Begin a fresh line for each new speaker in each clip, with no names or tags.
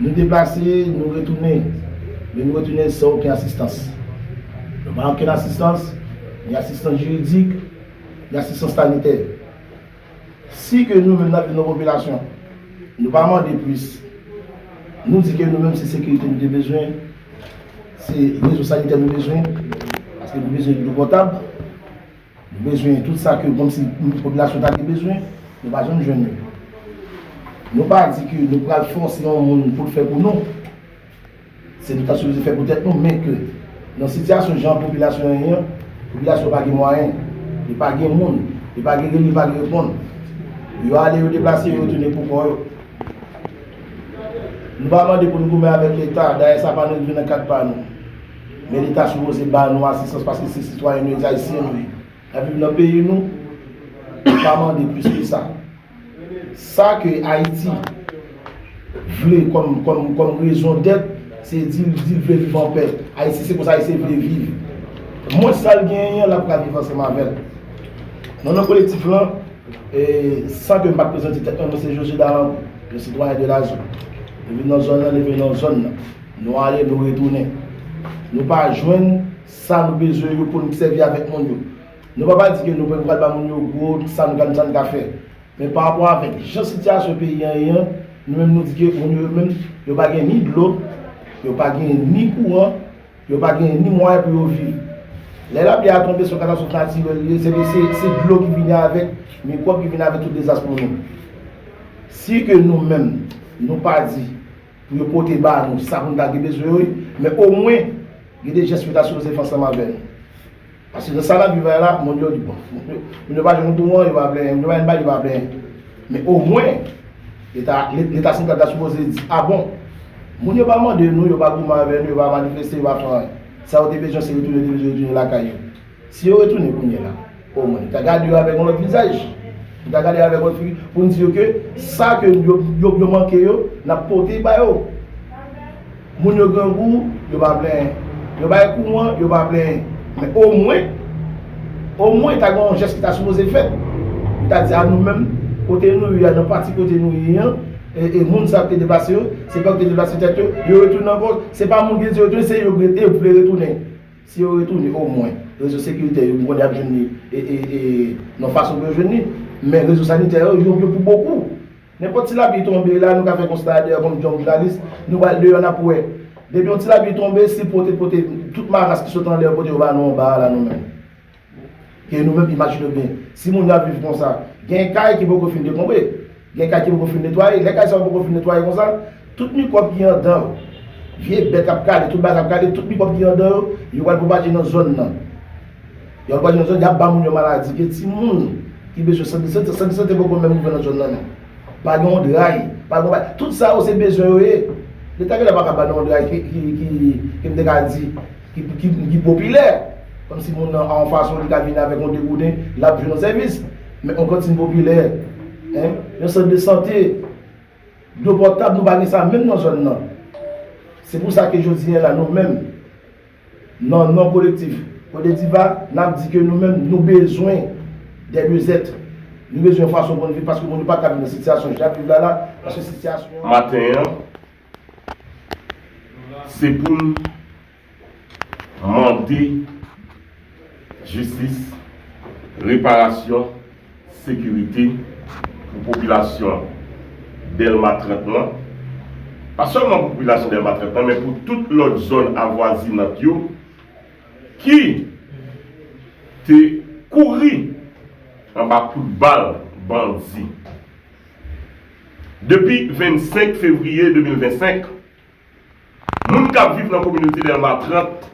Nou deplase, nou retounen, men nou retounen san oken asistans. Nou pa oken asistans, ni asistans jiridik, ni asistans sanitè. Si ke nou menm n ap di nou popilasyon, nou pa mande plis, nou di ke nou menm se sekirite nou te bezwen, se rezo sanitè nou bezwen, paske nou bezwen dlo potab. Nou bezwen tout sa ke komsi popilasyon ta gen bezwen, nou pa janm jwenn yo. Nou pa di ke nou pral fòse yon moun pou l fè pou nou. Se nou ta sipoze fè pou tèt nou, men ke nan sitiyasyon jan popilasyon an ye an, popilasyon pa gen mwayen, li pa gen moun, li pa gen rele, li pa gen reponn. Yo ale, yo deplase, yo retounen pou kò yo. Nou pa mande pou nou goumen avèk Leta, dayè sa pa nan rive nan kad pa nou. Men leta sipoze ba nou asistans paske se sitwayen nou ye, se ayisyen nou ye. Nap viv nan peyi nou, nou pa mande plis ke sa. Sa ke Ayiti vle kòm rezon dèt, se di li vle viv an pè. Ayiti se konsa Ayisyen vle viv. Mwens sa l genyen an, l ap ka viv ansanm avè l. Non nan kolektif lan, san ke m pa t prezante tèt mwen, mwen se Josue Dalancourt, yon sitwayen de la zòn. Mwen vin nan zòn nan, leve nan zòn nan. Nou ale nou retounen. Nou pa jwenn sa nou bezwen yo pou n sèvi avèk moun yo. Nou pa pa di ke nou pa pral ba moun yo gwo sa nou ta ka fè. Men pa rapò avèk jan sitiyasyon peyi an ye an, nou menm nou di ke moun yo yo menm yo pa gen ni dlo, yo pa gen ni kouran, yo pa gen ni mwayen pou yo viv. Lè lapli a tonbe se yon katastwòf natirèl li ye, se dlo ki vini avèk mikwòb ki vini avèk tout dezas pou nou. Si ke nou menm nou pa di. Pou yo pote ba nou, se sa pou nou ta gen bezwen wi. Men omwen, gen de jès yo ta sipoze fè ansanm avè nou. Paske nan sa n ap viv la, moun yo di bon, moun yo pa jwenn pou an, yo pa plenyen, moun yo pa jwenn bay, yo pa plenyen. Men omwen, Leta santral ta sipoze di, a bon, moun yo pa mande nou, yo pa goumen avè nou, yo pa manifeste, yo pa fè anyen. Sa yo te bezwen se retounen, yo te bezwen retounen lakay yo. Si yo retounen kounye la, o mwen, m ta gade yo avèk yon lòt vizaj. M ta gade yo avèk yon lòt figi pou m di yo ke sa ke yo manke yo, n ap pote ba yo. Moun yo grangou, yo pa plenyen. Yo bay kouran, yo pa plenyen. Men o mwen, o mwen ta gen yon jès ki ta sipoze fèt. M ta di a nou menm, kote nou ye a, nan pati kote nou ye an, e moun sa yo ki te deplase yo, se pa yo ki te deplase tèt yo, yo retounen ankò. Se pa moun ki te di yo retounen, se yo ki vle retounen. Si yo retounen o mwen rezo sekiritè yo m konnen y ap jwenn li nan fason pou yo jwenn li. Men rezo sanitè yo yo pou bokou. Nenpòt ti lapli tonbe la nou ka fè konsta a deyò kòm yon jounalis nou pral deyò n ap wè. Depi yon ti lapli tonbe si pote pote tout maras ki sot anlè yo pote yo ba nou anba a la nou menm. Ke nou menm imajine w byen, si moun yo ap viv konsa, gen kay ki poko fin dekonbre, gen kay ki poko fin netwaye, lè kay sa yo poko fin netwaye konsa, tout mikwòb ki andan, vye bèt ap kale, tout bagay ap kale, tout mikwòb ki andan yo, yo pral pwopaje nan zòn nan. Yo pral pwopaje nan zòn, y ap ba moun yo maladi ke timoun ki bezwen sant de sante, sant de sante poko menm ouvè nan zòn nan non. Pa gen yon dray, pa gen yon bagay, tout sa yo se bezwen yo ye. Leta genlè pa ka ba nou yon dray ki, ki, ki, ke m te ka di. ki popilè, kòm si moun nan an fason li ka vin avèk yon degouden, l ap jwenn yon sèvis. Men yon kantin popilè, yon sant de sante, dlo potab, nou pa gen sa menm nan zòn nan. Se pou sa ke jodi a la nou menm, nan non kolektif Kodediva, n ap di ke nou menm nou bezwen dè lieu zètre. Nou bezwen yon fason pou n viv paske moun yo pa ka viv nan sitiyasyon jan y ap viv la la, paske sitiyasyon an. Maten an,
Se pou n mande jistis, reparasyon, sekirite pou popilasyon Dèlma 30 lan, pa sèlman pou popilasyon Dèlma 30 lan men pou tout lòt zòn avwazinant yo ki te kouri anba kout bal bandi. Depi 25 fevriye 2025, moun k ap viv nan kominote Dèlma 30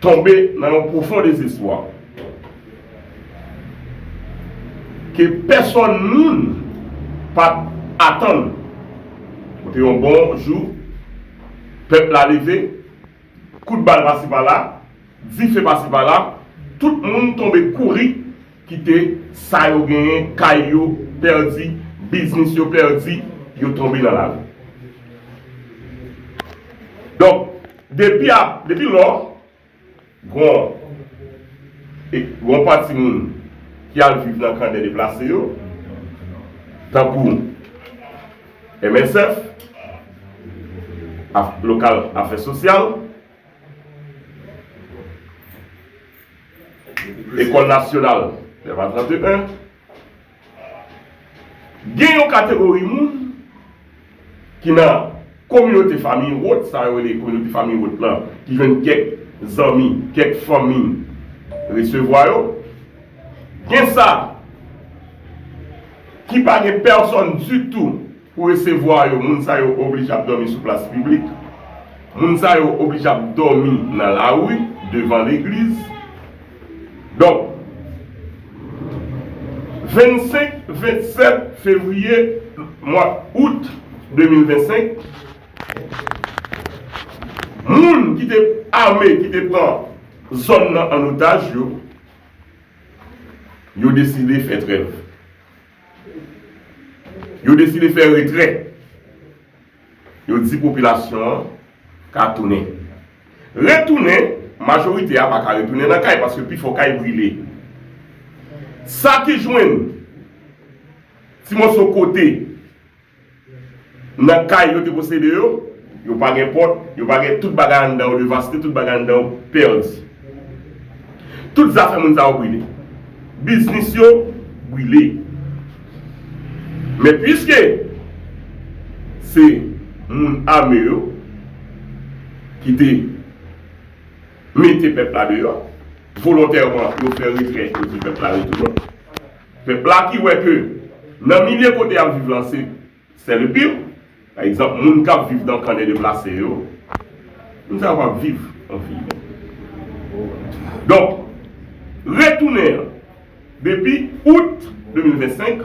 tonbe nan yon pwofon dezespwa ke pèsòn moun pa t atann kote yon bon jou pèp la leve, kout bal pasi pala, dife pasi pala, tout moun tonbe kouri. Kite sa yo genyen, kay yo pèdi, biznis yo pèdi, yo tonbe nan lari. Donk, depi a, depi lò, gon, e, gon pati moun ki al viv nan kan dè deplase yo, tankou MSF, ak lokal afè sosyal. Lekòl Nasyonal 9 a 31 Gen yon kategori moun ki nan kominote fanmi wòt sa yo rele kominote fanmi wòt lan ki jwenn kèk zanmi, kèk fanmi resevwa yo. Gen sa ki pa gen pèsòn ditou. Pou resevwa yo, moun sa yo oblije ap dòmi sou plas piblik, moun sa yo oblije ap dòmi nan lari, devan legliz. Donk, 25, 27 fevriye, mwa out 2025, moun ki te ame ki te pran zòn nan an otaj yo, yo deside fè trèv. Yo deside fè retrè. Yo di popilasyon an ka tounen. Retounen, majorite a pa ka retounen nan kay paske pi fò kay brile. Sa ki jwenn ti moso kote. Nan kay yo te posede yo, yo pa gen pòt, yo pa gen tout bagay anndan yo devaste, tout bagay anndan yo pèdi. Tout zafè moun sa yo brile. Biznis yo brile. Men piske se moun ame yo ki te mete pèp la deyò, volontèman yo fè retrè yo di pèp la retounen. Pèp la ki wè ke nan milye kote y ap viv lan se sè le pire. Pa egzanp, moun k ap viv nan kan de deplase yo, moun sa yo pa viv an vi imen. Donk, retounen an, depi out 2025,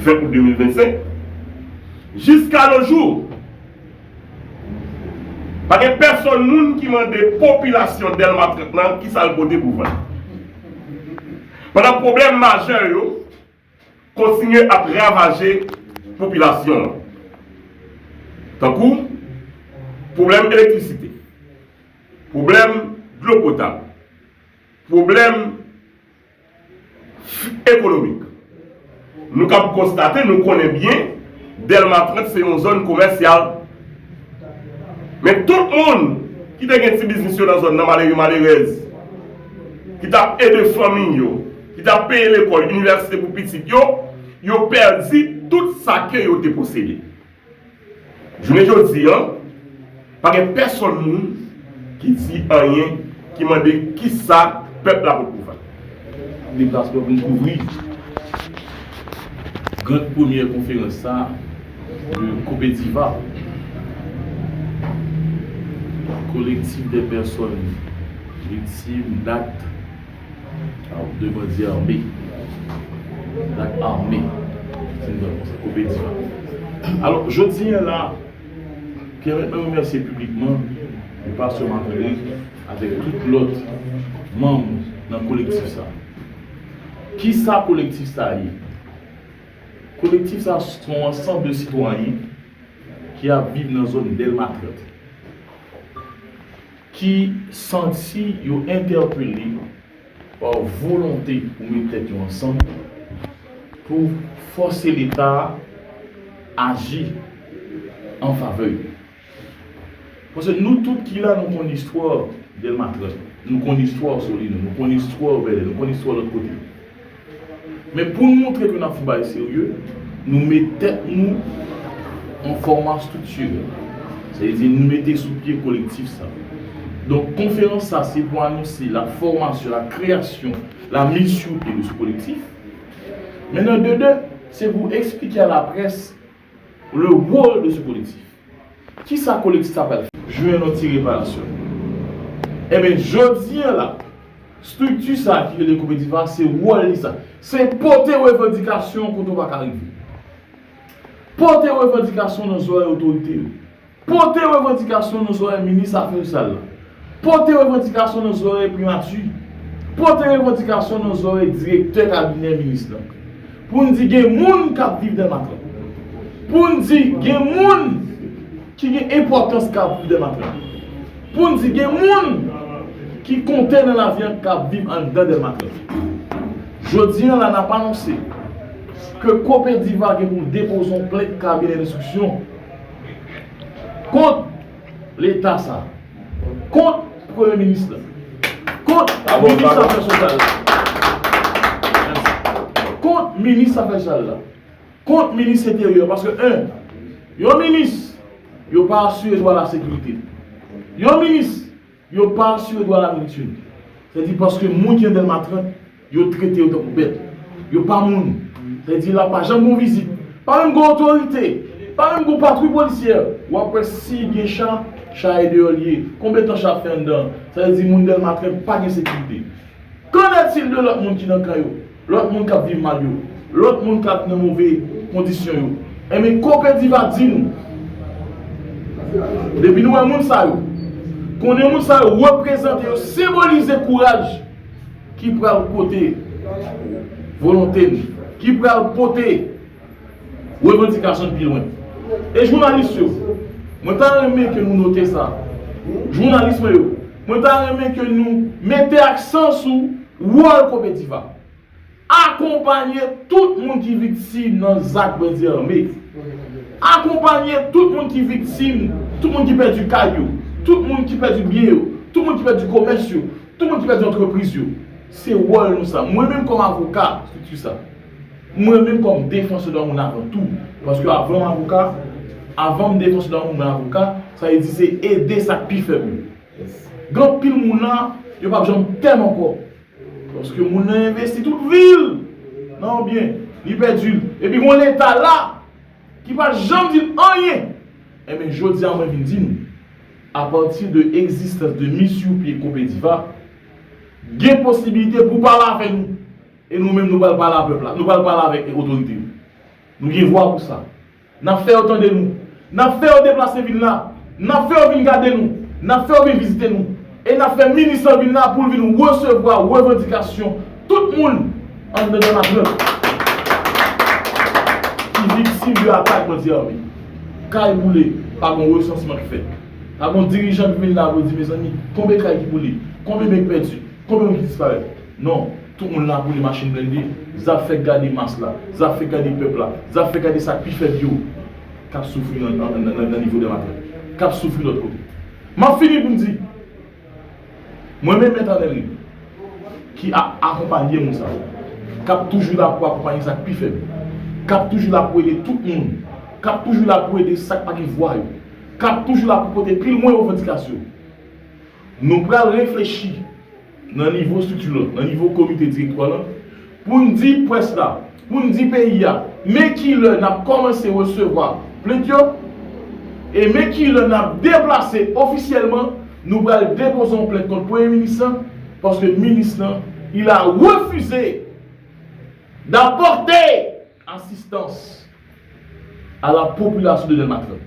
fen out 2025, jiska no jou, Pa gen pèsonn moun ki mande popilasyon Dèlma 30 lan ki sa l pote pou vann. Pandan pwoblèm majè yo kontinye ap ravaje popilasyon an, tankou pwoblèm elektrisite, pwoblèm dlo potab, pwoblèm. ekonomik. Nou kab konstate, nou konnen byen, Dèlma 30 se yon zòn komèsyal. Men tout moun ki te gen ti biznis yo nan zòn nan, malere malerèz, ki t ap ede fanmi yo, ki t ap peye lekòl, inivèsite pou pitit yo, yo pèdi tout sa ke yo te posede. Jounen jodi an, pa gen pèsonn moun ki di anyen ki mande kisa pèp la pot pouvwa. Deplasman
pou n kouvri grand premyè konferans sa a de Kopediva, Kolektif dè pèsonn viktim d'akt. Aw de bandi arme dak arme se nan konsa komedi a alò jodi a la pèmèt mwen remèsye piblikman le pastè Marc Andre avèk tout lòt manm nan kolektif sa kisa kolektif sa ye kolektif sa son ansanm de sitwayen ki ap viv nan zòn dèlma 30. Ki santi yo entèpele pa volonte pou met tèt yo ansanm pou fòse Leta a aji an favè yo. Paske nou tout ki la nou konn istwa Dèlma 30, nou konn istwa Solino, nou konn istwa Bèlè, nou konn istwa lòt kote. Men pou n moutre ke n ap fout bagay serye, nou met tèt nou an fòma striktirèl. Sa vle di nou mete sou pye kolektif sa. Donk konferans sa se pou anonse la fòmasyon, la kreyasyon, la miz sou pye de se kolektif. Men nan de de, se pou eksplike a laprès. Le rôle de ce collectif. Kisa kolektif sa pral fè? Jwenn yon ti reparasyon. Enben, jodi an la, strikti sa a ki rele Copetif a, se wòl li sa. Se pote revandikasyon kote w pa ka rive. Pote revandikasyon nan zorèy otorite yo. Pote revandikasyon nan zòrèy minis afè sosyal la. Pote revandikasyon nan zòrèy primati. Pote revandikasyon nan zòrèy direktè kabinè minis lan. Pou n di gen moun k ap viv Dèmatran. Pou n di gen moun ki gen enpòtans k ap viv Dèmatran. Pou n di gen moun ki konte nan lavi an k ap viv anndan Dèmatran. Jodi an la n ap anonse ke Copediva gen pou l depoze yon plent kabinè enstriksyon. Kont leta sa. Kont premye minis la. Kont minis afè sosyal la. Kont minis afè sosyal la. Kont minis enteryè. Paske 1. Yon minis yo pa asire dwa lasekirite. Yon minis. Yo pa asire dwa laverite. Sa di paske moun ki nan Dèlma 30, yo trete yo tankou bèt. Yo pa moun. Sa di la pa janm gon vizit. Pa menm gon otorite. Pa menm gon patwouy polisyè. W ap wè si gen cha, cha e deyò li ye. Konbyen tan cha ap fè anndan an? Sa vle di moun Dèlma 30 pa gen sekirite. Kennètil de lòt moun ki nan kan yo? Lòt moun k ap viv mal yo. Lòt moun k ap nan move kondisyon yo. Enben, Kopèdi va di nou, depi nou wè moun sa yo, konnen moun sa yo reprezante, yo senbolize kouraj ki pral pote volonte n, ki pral pote. Revandikasyon dpi lwen. E jounalis yo, mwen ta renmen ke nou note sa. Jounalis mwen yo, mwen ta renmen ke nou mete aksan sou wòl Copedifa. Akonpanye tout moun ki viktim nan zak bandi ame. Akonpanye tout moun ki viktim, tout moun ki pèdi kay yo, tout moun ki pèdi byen yo, tout moun ki pèdi komès yo, tout moun ki pèdi antrepriz yo. Se wòl nou sa. Mwen menm kòm avoka, strikti sa. Mwen menm kòm defansè dwa moun avan tou, paske avan m avoka, avan m defansè dwa moun mwen avoka, sa vle di se ede sa k pi fèb yo. Gen anpil moun la, yo p ap janm pè m ankò, paske moun nan envesti tout vi l nan yon byen, li pèdi l, epi gon leta la ki pa janm di l anyen. Enben jodi a mwen vin di nou, apati de egzistans de Miss Youpie Kopediva, gen posibilite pou pale avè nou, E nou menm nou pral pale a pèp la. Nou pral pale avèk e otorite yo. Nou gen vwa pou sa. Nap fè yo tande nou. Nap fè yo deplase vin la. Nap fè yo vin gade nou. Nap fè yo vin vizite nou. E nap fè minis lan vin la poul vin resevwa revandikasyon tout moun anndan Dè Matyòl ki viktim de atak bandi ame. Kay boule pa gon resansman k fèt. Pa gon dirijan k vin la pou di mezanmi konbe kay ki boule? Konbe men k pèdi? Konbe moun ki disparèt? Non, tout moun la boule machin blende, zap fè gade mas la, zap fè gade pèp la, zap fè gade sa k pi fèb yo, k ap soufri nan nivo dèmatè, k ap soufri lòt kote. M ap fini pou m di, mwen men Mèt Anèl Remy, ki ap akonpanye moun sa yo, k ap toujou la pou akonpanye sa k pi fèb, k ap toujou la pou ede tout moun, k ap toujou la pou ede sa k pa gen vwa yo, k ap toujou la pou pote pi lwen revandikasyon nou, nou pral reflechi. nan nivo estrikti lan, nan nivo komite direktwa lan, pou n di près la, pou n di peyi a, men ki lè n ap kòmanse resevwa plent yo, e men ki lè n ap deplase ofisyèlman, nou pral depoze yon plent kont Premye Minis lan, paske Minis lan, il a refusé d'apporter! asistans a la popilasyon de Dèlmatyòn.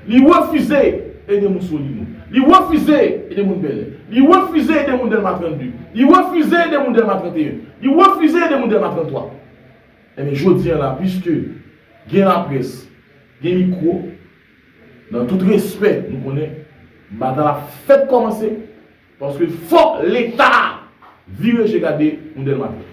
Li refize ede moun Solino. Li refize ede moun Bèlè. Li refize ede moun Dèlma 32. Li refize ede moun Dèlma 31. Li refize ede moun Dèlma 33. Enben, jodi an la, piske gen laprès, gen mikwo, nan tout respè, nou konnen batay la fèk kòmanse, paske fòk Leta vire je gade moun Dèlmatyòn.